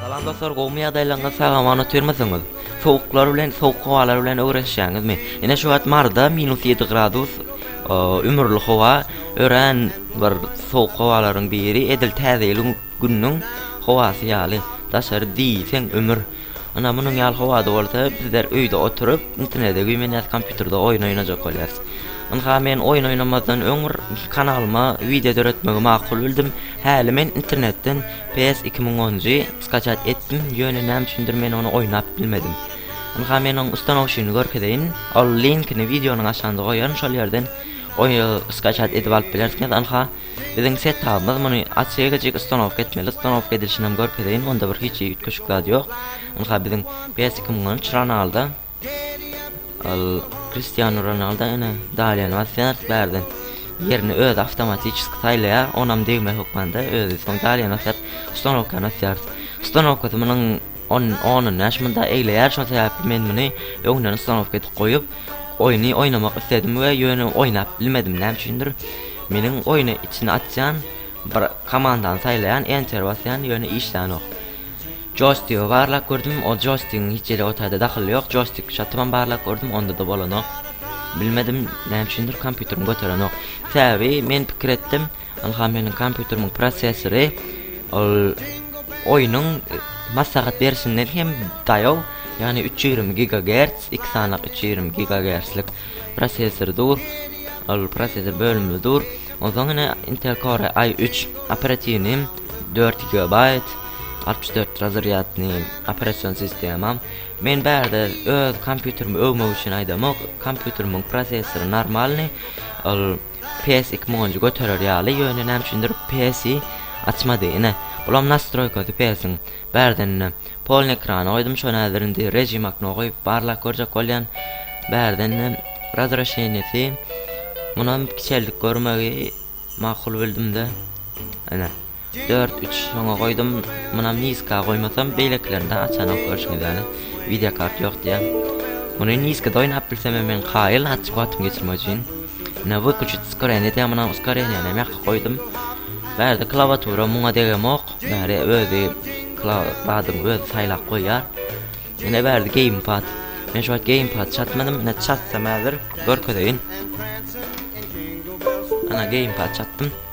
Salam dostlar, gowmy ýagdaýlaryňyz, sag-aman otyrmysyňyz? Sowuklar bilen, sowuk howalar bilen öwrenişýäňizmi? Ine şu wagt Maryda minus ýedi gradus ümürli howa, örän bir sowuk howalaryň biri, edil Täze ýylyň Günüň howasy ýaly, daşary diýseň ümür. Ynha, munuň ýaly howada bolsa, bizler öýde oturyp, internete güýmenýäs, kompýuterde oýun oýnajak bolýarys. Ynha, men oýun oýnamazdan öň bir kanalyma wideo döretmegi makul bildim. Häli men internetden PS iki müň onjy skaçat etdim, ýöne näme üçindir men ony oýnap bilmedim. Ynha, men onuň ustanowşyny görkezeýin. Ol linkini wideonyň aşagynda goýaryn, şol ýerden skaçat edip alyp bilersiňiz. Ynha. Biziň setapymyz muny açyk-eçik ustanowka etmeli, ustanowka edilişinem görkezeýin, onda bir hiç üýtgeşik zat ýok. Ynha biziň Bäsiki mundan üç Ronaldo. Ol Kristiano Ronaldo ene Daliýanybaz Ferd bärden ýerini özi awtomatiçeski saýlaýar, onam degme hökmanda özi soň Daliýany asýar, ustanowkany asýarys. Ustanowkasy munuň On on bäş munda egleýär şo sebäpli men muny öňden stanowka edip goýup oýny oýnamak isledim we ýöne oýnap bilmedim näme üçindir meniň oýny içine atýan bir komandany saýlaýan enter basýan ýöne işlänok joystigy barlap gördüm o joystigiň hiç ýere o taýda dahyly ýok joystik şatybam barlap gördüm onda da bolanok bilmedim näme üçindir kompýuterim göterenok sebäbi men pikir etdim Ynha meniň kompýuterimiň prosessori ol oýnuň maslahat berişinden hem daýaw, ýagny üç ýüz ýigrimi gigagerts, iki sany üç ýüz ýigrimi gigagertslik prosessor dur. Ol prosessor bölümli dur. Onsoň ine Intel Core i3 operatiwni dört gigabaýt, altmyş dört razrýadny operasion sistema. Men bärde öz kompýuterimi öwmek üçin aýdamok, kompýuterimiň prosessory normalny, ol PS iki monji göterer ýaly ýöne näme üçindir PS i açmady ine bulam nastroýkasy PS-iň bärden ine polny ekrana goýdum şony häzir indi rejim akno goýup barlap görjek bolýan bärden ine razrashenyýesi munam kiçeldip görmegi makul bildimde ine. Dört üç soňa goýdum munam niska goýmasam beýlekilerinde açanok görşüňiz ýaly wideo kart ýok diýýär muny niskada oýnap bilsemem men kaýyl açyk wagtymy geçirmek üçin ine wykuçit uskorenýe diýýär munam uskorenýenam ýaka goýdum bärde klawatura muňa degemok bäri özi klawadyň özi saýlap goýýar ine bärde geýmpad men şu wagt geýmpad çatmadym ine çatsam häzir görkezeýin ana geýmpad çatdym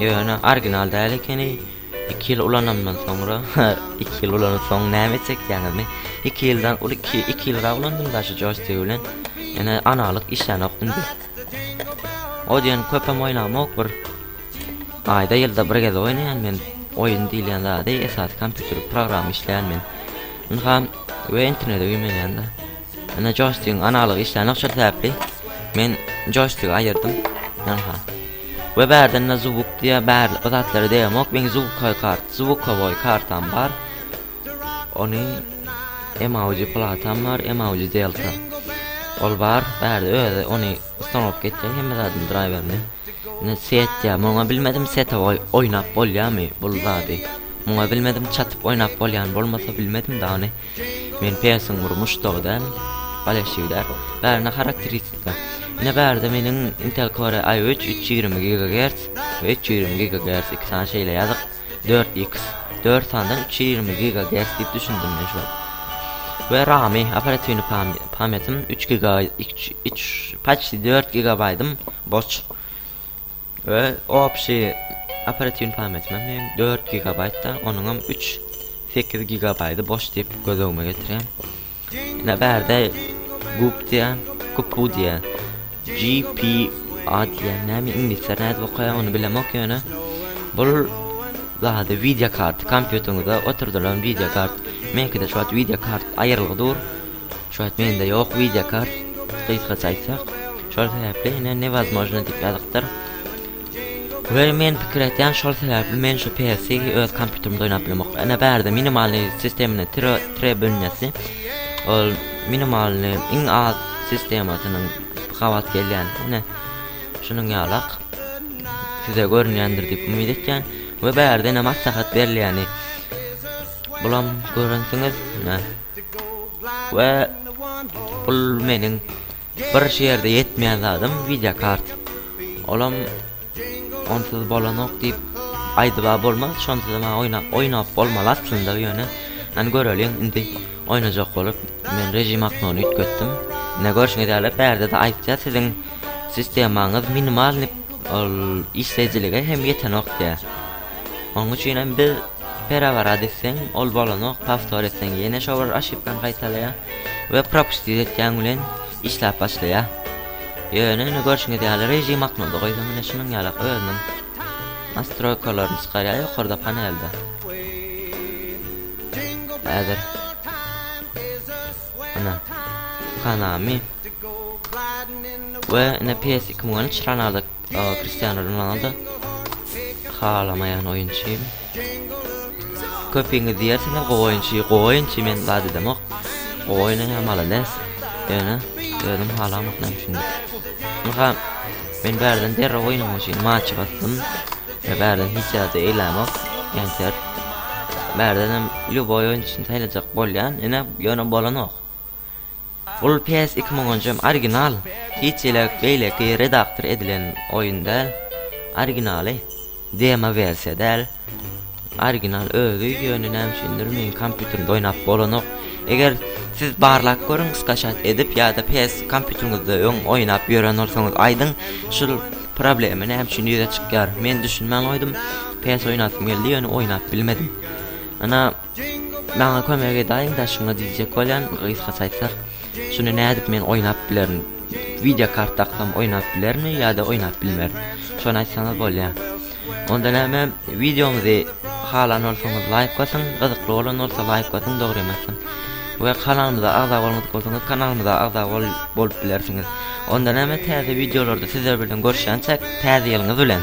Ýöne orginal däl ekeni, iki ýyl ulananymdan soňra, iki ýyl ulanyp soň näme çekýäňizmi, iki ýyldan uly iki, iki ýylrak ulandym daşy joýstigi bilen, ýöne analyk işlänok indi. O diýen köpem oýnamok bir aýda ýylda bir gezek oýnaýan men oýun diýilýän zady, esasy kompýuter programma işleýän men. Ynha we internete güýmenýän-de. Ine joystigiň analygy işlänok şol sebäpli men joystigi aýyrdym. Ynha. We bärdende zuwuk diýýär, bärli bu zatlary degmok, meň zuwukoý kart, zuwukowoý kartam bar. Ony emauji platam bar, emauji delta. Ol bar, bärde özi ony ustanowka etýär hemme zadyny draýwerini. Ine set diýýär, muňa bilmedim setowoý oýnap bolýamy bul zady. Muňa bilmedim çatyp oýnap bolýan bolmasa bilmedim dany. Men Pensiň Murmuş dogy däl, bal eşigi däl. Bärinde harakteristika. Ine bärde meniň Intel Core i üç üç ýigrimi gigagerts we üç ýigrimi gigagerts iki sany şeýle ýazyk dört x dört sandan üç ýigrimi gigagerts diýip düşündim men şuwagt. We ramy operatiwny pamýatim üç giga üç üç paçti dört gigabaýtym boş. We opşi operatiwni pametime men dört gigabaýtda onuňam üç sekiz gigabaýdy boş diýip göz öňüme getirýän. Ine bärde gup diýän, gupu diýän. GPA diýän näme iňlisler nädip okaýar ony bilemok ýöne bul zady wideo kart kompýuteriňize oturdylan wideo kart. Meňkide şu wagt wideo kart aýrylgy dur. Şu wagt mende ýok wideo kart gysgaça aýtsak şol sebäpli ine newozmojno diýip ýazypdyr we men pikir etýän şol sebäpli men şu PS-i öz kompýuterimde oýnap bilemok ine bärde minimalnyý sistemini tire tire bölünesi ol minimalnyý iň az sistemasynyň gabat gelýän ine şunuň ýalak size görünýändir diýip umyt etýän we bärde ine maslahat berilýäni bulam görensiňiz ine we bul meniň bir şerde ýetmeýän zadym wideo kart olam onsuz bolanok diýip aýdyba bolmaz şonsuzam maňa oýnap oýnap bolmaly aslynda ýöne hany göreliň indi oýnajak bolup men režim aknony üýtgetdim ine görşüňiz ýaly bärdede aýtýar siziň sistemaňyz minimalnyý ol işleýjilige hem ýetenok diýýär. Oň üçinem biz pereworot etseň ol bolanok powtor etseň ýene şo bir oşipkany gaýtalaýa we propustit etýäň bilen işläp başlaýa. Ýöne ine görşüňiz ýaly režim aknowda goýsaň ine şunuň ýalak özüniň nastroýkalaryny çykarýa ýokarda panelde. Häzir ine kanami we ine ps iki müň on üç ranada Aga Cristiano Ronaldo halamaýan oýunçy. Köpiňiz diýersiňiz gowy oýunçy, gowy oýunçy men zat edemok. Gowy oýnaýan malades. Ýöne özüm halamok näme üçin. Maha men bärden derrew oýnamak üçin maç basdym. Ve bärden hiç zat eýlämok. Enter. Bärden hem ljuboý oýunçyny saýlajak bolýan, ine ýöne bolanok. Bul PS iki müň onjy original hiç hile beýleki redaktor edilen oýun däl originaly demo wersiýa däl original özi ýöne näme üçindir meň kompýuterimde oýnap bolanok eger siz barlap görüň skaşat edip ýada PS kompýuteriňizde öň oýnap ýören bolsaňyz aýdyň şul problema näme üçin ýüze çykýar men düşünmän goýdum PS oýnasym geldi ýöne oýnap bilmedim ana Maňa kömek edaýiň daşyňa diýjek bolýan gysga saýtlar şuny nädip men oýnap bilerin wideo kart daksam oýnap bilermi ýada oýnap bilmerin şony aýtsaňyz bolýa onda näme wideomyzy halan bolsaňyz laýk basyň gyzykly bolan bolsa laýk basyň dogry emesem we kanalymyza agza bolmadyk bolsaňyz kanalymyza agza bol bolup bilersiňiz onda näme täze wideolarda sizler bilen görüşýänçäk täze ýylyňyz bilen.